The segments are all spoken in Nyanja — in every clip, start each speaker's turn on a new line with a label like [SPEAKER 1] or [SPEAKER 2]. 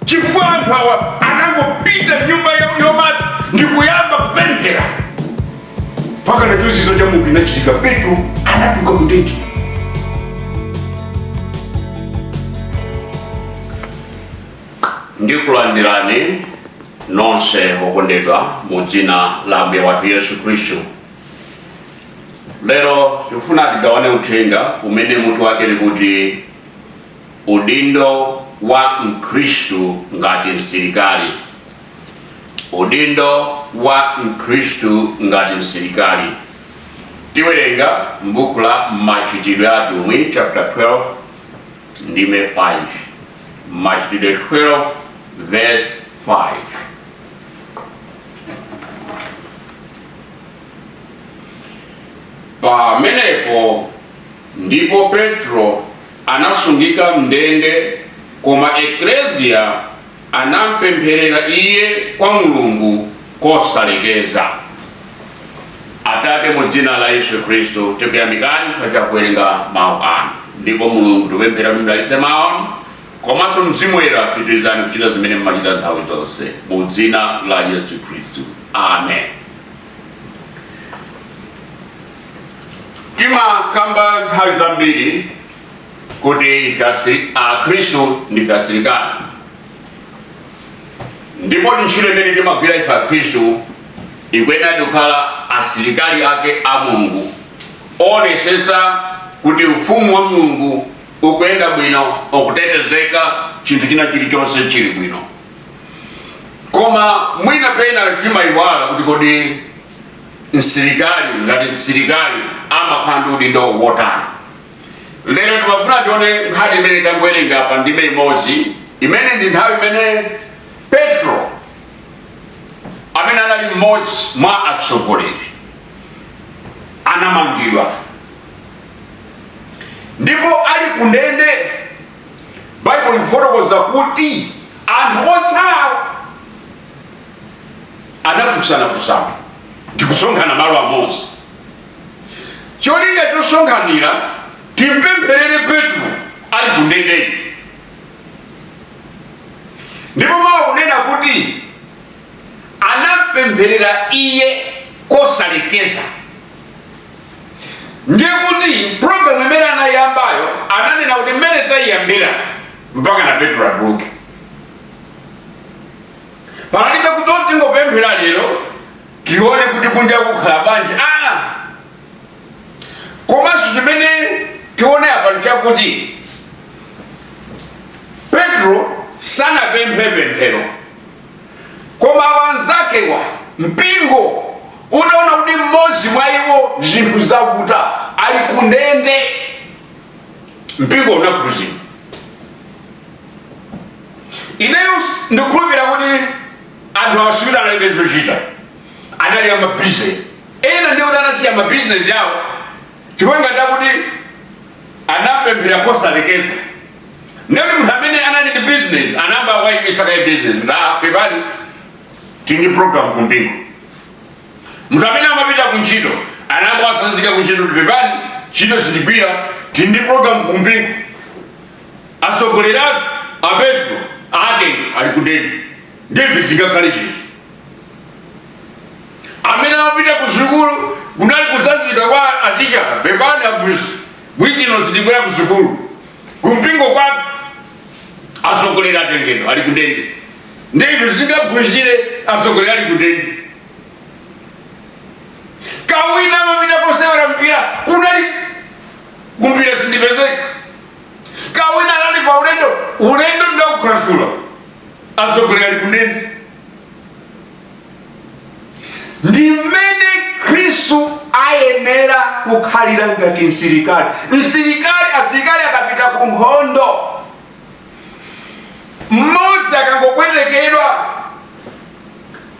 [SPEAKER 1] chifukwa anthu awa anangopita mnyumba ya Yomati ndikuyamba kupemphera mpaka chozizwa cha Mulungu inachitika petro anatuka kundende
[SPEAKER 2] ndikulandirani nonse okondedwa mu dzina la ambuye wathu yesu khristu lero tikufuna tigawane uthenga umene mutu wake likuti Udindo wa Mkhristu ngati msilikali. Udindo wa Mkhristu ngati msilikali. Tiwerenga m'buku la Machitidwe a Atumwi chapter 12 ndime 5. Machitidwe 12 verse 5. Pamenepo ndipo Petro anasungika m'ndende, koma Eklesia anampempherera iye kwa Mulungu kosalekeza. Atate, mu dzina la Yesu Khristu, tikuyamikani chifukwa cha kuwerenga mawu anu. Ndipo Mulungu tikupemphera kuti mdalitse mawu anu, komanso Mzimu Woyera pitirizani kuchita zimene mumachita nthawi zonse. Mu dzina la Yesu Khristu, amen. timakamba nthawi zambiri kuti ife akhristu ndife asilikali ndipo ntchito imene timagwira ife akhristu ikuyenera kukhala asilikali ake a mulungu oonesesa kuti ufumu wa mulungu ukuyenda bwino ukutetezeka chinthu china chilichonse chili bwino koma mwina pena timayiwala kuti kodi msilikali ngati msilikali amakhala ndi udindo wotani lero timafuna tione nkhani imene tangowerenga pa ndime imodzi imene ndi nthawi imene petro amene anali mmodzi mwa atsogoleri anamangidwa ndipo ali kundende baibulo likufotokoza kuti anthu otsalawo anakusanakusana ndikusonkhana malo amodzi cholinga chosonkhanira nkupempherera petro ali kundende ndipo mawu akunena kuti anampempherera iye kosalekeza ndiye kuti programu imene anayiyambayo ananena kuti mmene tayiyambira mpaka na petro atuluke panalibe kuti tingopemphera lero tione kuti kunja kukhala bwanji komanso chimene tione apa nchakuti petro sanapemphe pemphero koma anzakewa mpingo unaona kuti mmodzi mwa iwo zinthu zavuta ali ku ndende mpingo unakhuzidwa ineyo ndikukhulupira kuti anthu awa sikuti analibe zochita anali amabizinesi ena ndithu anasiya mabizinesi yawo chifukwa ngati akuti anapemphera kosalekeza Ndiye munthu amene anali ndi business anayamba waimitsa kaye business pepani tili ndi program kumpingo. Munthu amene amapita ku ntchito anayamba watsanzika ku ntchito pepani ntchito sitigwira tili ndi program kumpingo. Atsogoleri athu a Petro atenga ali kundende ndiye ife sitingakhale chete amene amapita ku sukulu kunali kutsanzika kwa aticha pepani abusi Week ino sitibwera ku sukulu. Kumpingo kwathu atsogoleri atengedwa ali kundende. Ndiye ife sitingaphunzire atsogoleri ali kundende. Kawina amapita kosewera mpira kunali kumpira sindipezeka. Kawina anali pa ulendo ulendo ndaukansula atsogoleri ali kundende. ndi mmene khristu ayenera kukhalira ngati msilikali msilikali asilikali akapita ku nkhondo mmodzi akangopwetekedwa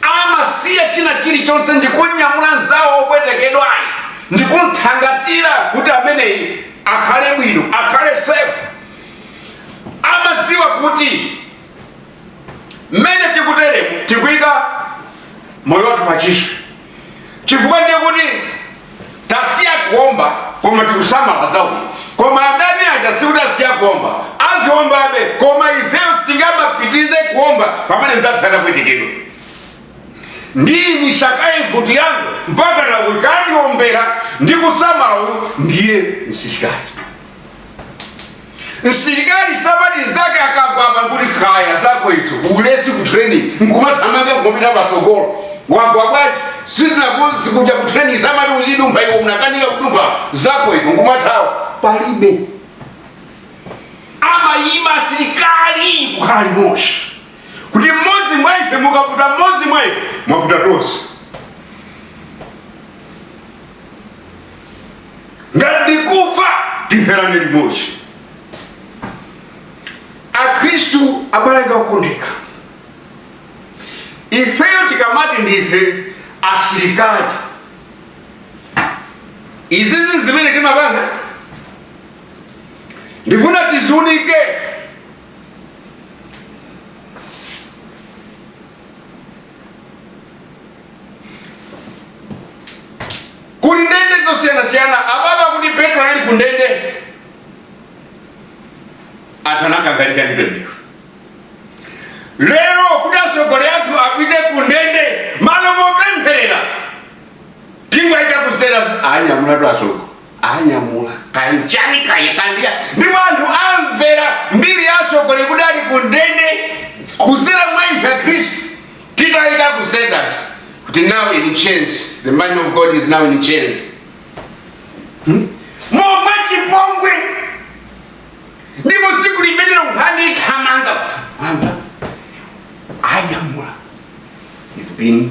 [SPEAKER 2] amasiya china chilichonse ndikunyamula mnzawo wopwetekedwayo ndikumthangatira kuti ameneyi akhale bwino akhale sefu amadziwa kuti mmene tikuteremu tikuyika moyo wathu pachiswe chifukwa ndiye kuti tasiya kuomba koma tikusamala za uyu koma adani aja sikuti asiya kuomba aziombabe koma ifeyo sitingapitirize kuomba pamene mnzathu wapwetekedwa ndiyimitsa kaye mfuti yangu mpaka akhoza kundiombera ndikusamala uyu ndiye msilikali msilikali sabadira nzake akagwa nkuti kaya zako izo ulesi ku training nkumathamanga nkumapita patsogolo wagwa bwanji sitinakuuze kuja ku training amati uzidumpha iwe unakanika kudumpha zako izo nkumathawa palibe amaima asilikali kukhala pamodzi kuti mmodzi mwa ife mukaputa mmodzi mwa ife mwaputa tonse ngati ndikufa tipherane limodzi akhristu abale anga okondeka ifeyo tikamati ndife asilikali izizi zimene timapanga ndifuna tiziunike kuli ndende zosiyanasiyana apapa kuti petro anali ku ndende anthu anakangalika ndi pemphero lero kuti atsogoleri athu apite ku ndende malo mopempherera tingoyika kuseri anyamula atsogoleri anyamula kanjani kaye kandiya ndipo anthu amvera mbiri ya atsogoleri kuti ali ku ndende kudzera mwa ife akhristu Titaika ku status kuti now in chains the man of God is now in chains mwachipongwe ndipo tsiku limenelo nkhani ithamanga anyamula is being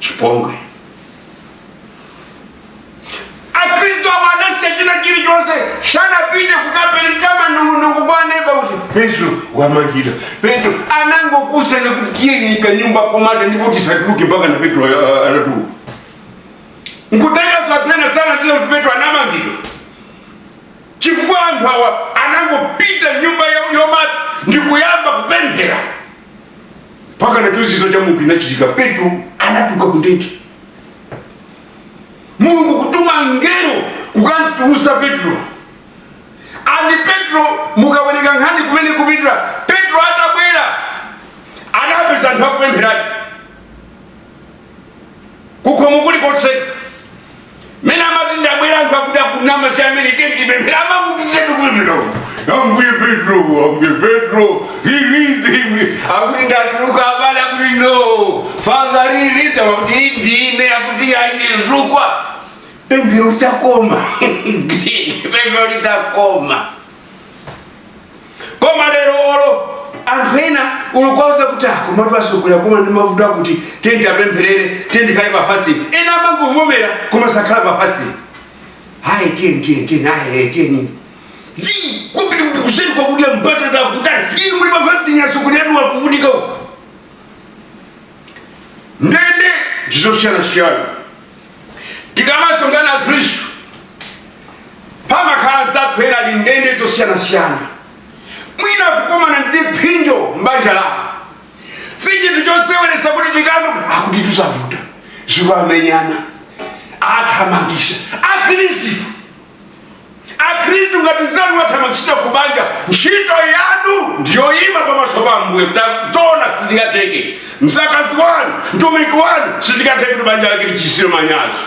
[SPEAKER 2] chipongwe akhristu awa anasiya china chilichonse sanapite kukapereka manong'onong'o kwa neba kuti petro wamangidwa petro anangouzana kuti tiyeni m'kanyumba komata ndipo tisatuluke mpaka na petro a- a- anatuluka nkutheka a neba sanadziwe kuti petro anamangidwa chifukwa anthu awa anangopita nyumba ya- yomata ndikuyamba kupemphera mpaka na chozizwa cha mulungu chinachitika petro anatuluka kundende mulungu kutuma mngelo kukamtulusa petro andi petro mukawerenga nkhani imene ikupitira petro atabwera anapeza anthu akupempherayo kukhomo kuli kotseka mene amati ndabwera anthu akuti akunama si amene tikumpempherera akupitiriza kupemphera ambuye petro release him akuti ndatuluka abale akuti no father release akuti ndine akuti ayi ndi mzukwa pemphero litakoma pemphero litakoma koma lero olo anthu ena ulukwaza kuti akomatu asogolera koma ndi mavuto akuti tiyeni tiwapempherere tiyeni tikhale pa fasting ena amangomvomera koma sakhala pa fasting hayi tiyeni tiyeni tiyeni hayi tiyeni zii kupita kuseri kukadya mbatata akutali inu muli pa fasting atsogoleri anu akuvutika uko ndende ndizosiyanasiyana tikamasonkhana akhristu pamakhala anzathu ena ali ndende zosiyanasiyana mwina kukomana ndi ziphinjo mbanja lawo si chinthu choseweretsa kuti tikamva akuti tu zavuta akumenyana athamangitsa akhristu akhristu ngati mzanu wathamangitsidwa ku banja ntchito yanu ndiyoyima pamaso pa ambuye tazona sizingatheke mdzakazi wanu mtumiki wanu sizingatheke kuti banja lake lichititse manyazi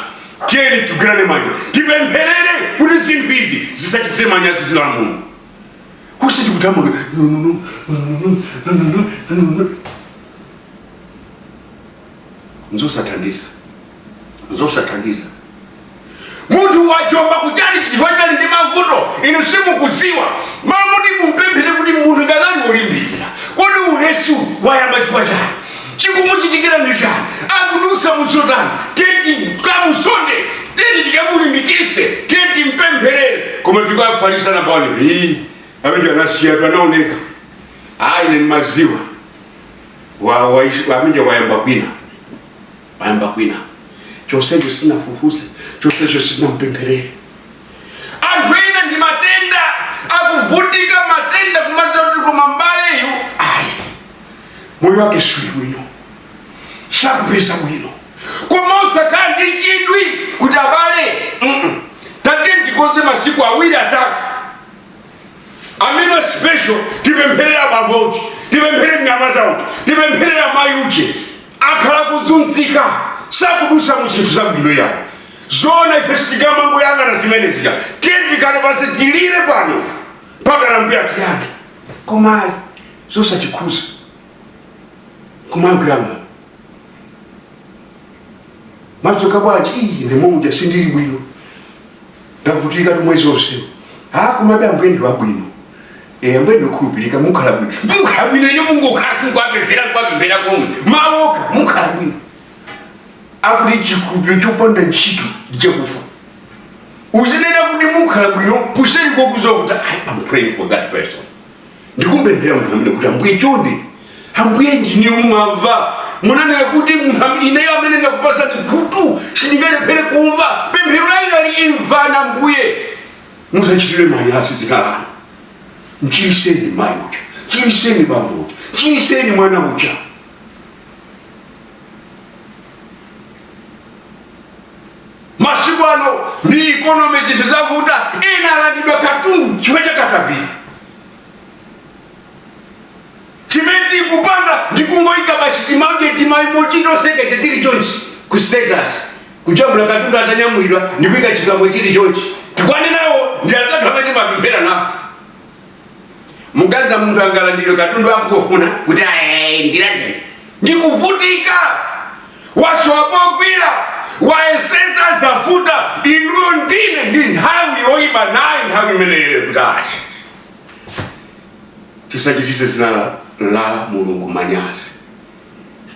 [SPEAKER 2] tiyeni tigwirane manja tipempherere kuti zinthu izi zisachitise manyazi dzina la mulungu osati kuthamanga nzosathandiza zosathandiza munthu wajomba kutchalitchi chifukwa ali ndi mavuto inu simukudziwa mmalo moti mumpemphere kuti munthu uja anali wolimbikira kodi ulesu wayamba chifukwa chani chikumuchitikira ndi chani akudutsa mu zotani tiyeni tikamuzonde tiyeni tikamulimbikitse tiyeni timpempherere koma tikafalisana pano ii ameneuja anasiyatu sanaoneka ayi ine ndimadziwa wa- wa- amene wayamba kwina wayamba kwina chonsecho sunafufuze chonsecho sunampempherere anthu ena ndi matenda akuvutika matenda kumadziwa kuti koma mbaleyu ayi moyo wake suli bwino sakupeza bwino koma osakhala ndi chidwi kuti abale mm-mm, tatiyeni tikonze masiku awiri atatu amene special tipempherere bambo uje tipempherere mnyamata uje tipempherere mayi uje akhala kuzunzika sakudusa mu zinthu zabwino yayi zoona ife sitingamangoyang'ana zimene zija tiyeni tikhale pansi tilire pano mpakana ambuye atiyankhe koma ayi zosatikhudza kumangoyang'ana mwadzuka bwanji ii ndi momuja sindili bwino ndavutikatu mwezi onsewu komabe ambuye ndi wabwino Eh, ambuye ndokhulupirika mukhala bwino mukhala bwino ine mungokhala kunkwapemphera nkwapemphera komwe mawoko mukhala bwino akuti chikhulupiriro chopanda ntchito ndichakufa uzinena kuti mukhala bwino kuseri kokuziwa kuti i am praying for that person ndikumpemphera munthu amene kuti ambuye chonde ambuye ndinu mumamva munanena kuti munthu am- ineyo amene ndakupasa ndikhutu sindingalephere kumva pemphero lako ayi imvani ambuye musachitire manyazi dzina lanu mchiriseni mayi uja mchiriseni bambo uja mchiriseni mwana uja masiku ano ndi ikonomi zinthu zavuta ena alandidwa katundu chifukwa cha katapira chimene tikupanga ndikungoyika basi timaimoji toseketsa tili chonchi ku status kujambula katundu atanyamulidwa ndikuyika chigambo chili chonchi tikwane nawo ndi atatu amene timapemphera nawo muganiza munthu angalandidwe katundu akungofuna kuti ndilandidwe ndikuvutika wasowa pogwira wayesetsa zavuta inuyo ndine ndi nthawi yoyipa nayo nthawi imeneyo kuti asha tisachititse dzina la, la mulungu manyazi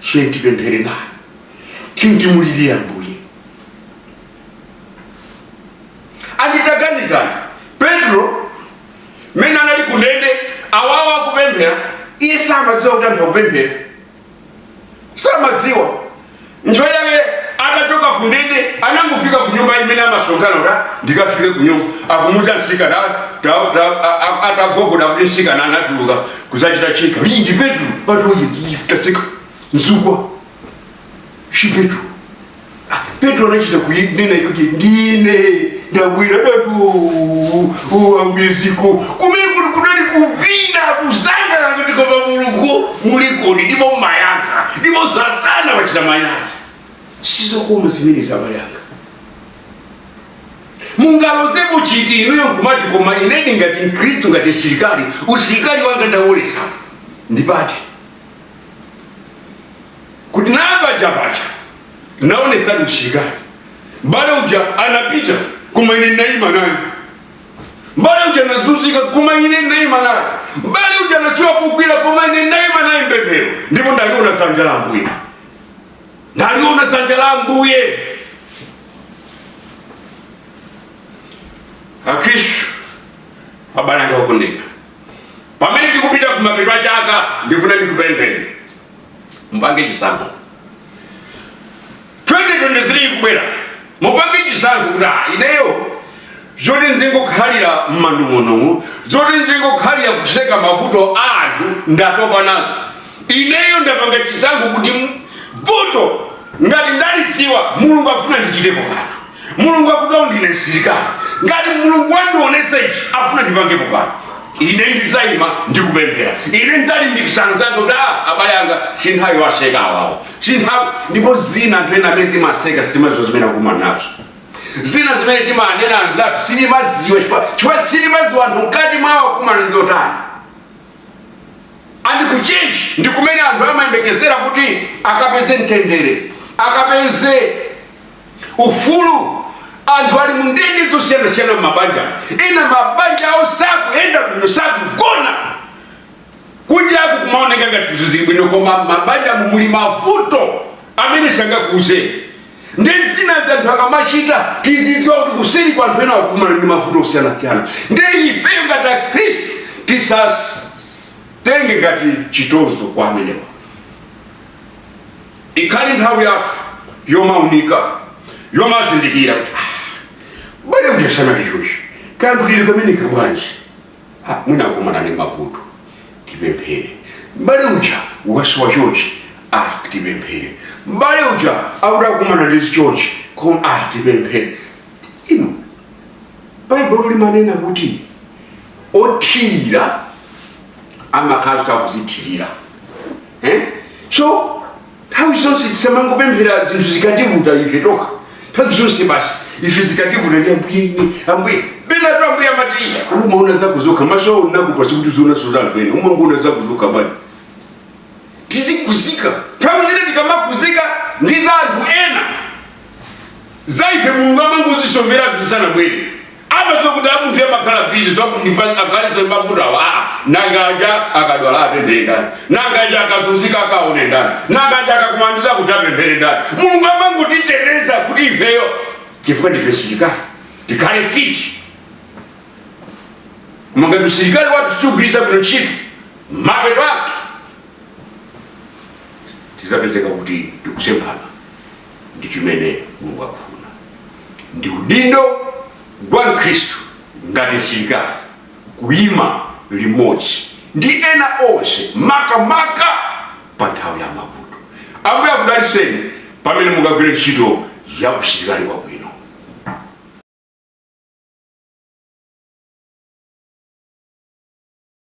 [SPEAKER 2] tiyeni tipemphere naye tiyeni timulirire ambuye ndi taganizani petro mmene anali kundende awawa akupemphera iye samadziwa kuti anthu akupemphera samadziwa ntchito yake atachoka kundende anangofika kunyumba imene amasonkhana kuti "Ah, ndikafike kunyumba akumuza mtsikana "Ah, ta- ta- a- a- atagogoda kuti mtsikana anatuluka kuzachita cheka ndi petro patoye tatsika mzukwa si petro Ah, petro anachita kunena kuti ndine ndabwera datu uwambiziko kumene kuti kunali kuvina kusangalala kuti koma mulungu mulikodi ndipo mmayankha ndipo satana wachita manyazi sizokoma zimene abale anga mungalozeko chiti inuyo nkumati koma inedi ngati mkhristu ngati msilikali usilikali wanga ndaonetsa ndi pati kuti ndi paja paja naonetsa usilikali mbale uja anapita koma ine naima naye mbale uja anazunzika koma ine naima naye mbale uja nachoka kukwira koma ine naima naye mpemphero ndipo ndaliona dzanja la ambuye ndaliona dzanja la ambuye akristu abale anga okondedwa pamene tikupita kumapeto a chaka ndifuna ndikupempheni mupange chisankho 2023 ikubwera mupange chisankho kuti ah, ineyo zoti nzingokhalira mmanong'onong'o zoti nzingokhalira kuseka mavuto a anthu ndatopa nazo ineyo ndapanga chisankho kuti vuto ngati ndalidziwa mulungu afuna ndichitepo kanthu mulungu akuti ndine msilikali ngati mulungu wandionesa ichi afuna ndipangepo kanthu ine ndizayima ndikupemphera ine ndizalimbikisa anzanga kuti a abale anga sinthawi waseka awawo sinthawi ndipo zina anthu ena amene timaseka sitimaziwa zimene akumana nazo zina zimene timanena anzathu sitimaziwa chifukwa- chifukwa sitimaziwa anthu mkati mwawo akumana ndizotani and kuchechi ndi kumene anthu amayembekezera kuti akapeze mtendere akapeze ufulu anthu ali mundende zosiyanasiyana mmabanja ena m'mabanja awo sakuyenda bwino sakugona kunjaku kumaoneka ngati zinthu zili bwino koma mmabanjamu muli mavuto amene sangakuuze ndiye zina za anthu akamachita tizidziwa kuti kuseri kwa anthu ena akumana ndi mavuto osiyanasiyana ndiye ifeyo ngati akhristu tisatenge ngati chitozo kwa amenewa Ikhale nthawi yathu yomaunika, yomazindikira kuti ah, mbale uja ali chochi kanthu kameneka bwanji Ah, mwina akumana ndi mavuto tipemphere mbale uja wasowa chochi ah, tipemphere mbale uja akuti akumana ndi chochi ah, tipemphere inu baibulo limanena kuti othirira amakhala kuti akuzithirira eh? so nthawi zonse tisamangopemphera zinthu zikativuta ife tokha nthawi zonse basi ife zikativuta ndiye ambuye ine ambuye bweranitu ambuye amati kodi umaona zako zokha maso awo ndinakupatsa kuti uzionaso za anthu ena umangoona zako zokha abale tizikuzika nthawi zina tikamakuzika ndi za anthu ena za ife mulungu amangozisoveratu zisanabwere amadziwa kuti amunthu awa amakhala bizi ndiye ndikapanda kuthandiza mavuto awo aa nanga aja akadwala apemphere ndani nanga aja akazunzika akaone ndani nanga aja akakumana ndi zakuti apemphere ndani mulungu amangotiteteza kuti ifeyo chifukwa ndife asirikali tikhale fiti koma ngati usilikali wathu sitiugwiritsa bwino ntchito mapeto ake tizapezeka kuti tikusemphana ndi chimene mulungu akufuna ndi udindo wa mkhristu ngati msilikali kuyima limodzi ndi ena onse makamaka pa nthawi ya mavuto ambuye akudaliseni pamene mukagwira ntchito ya usilikali wabwino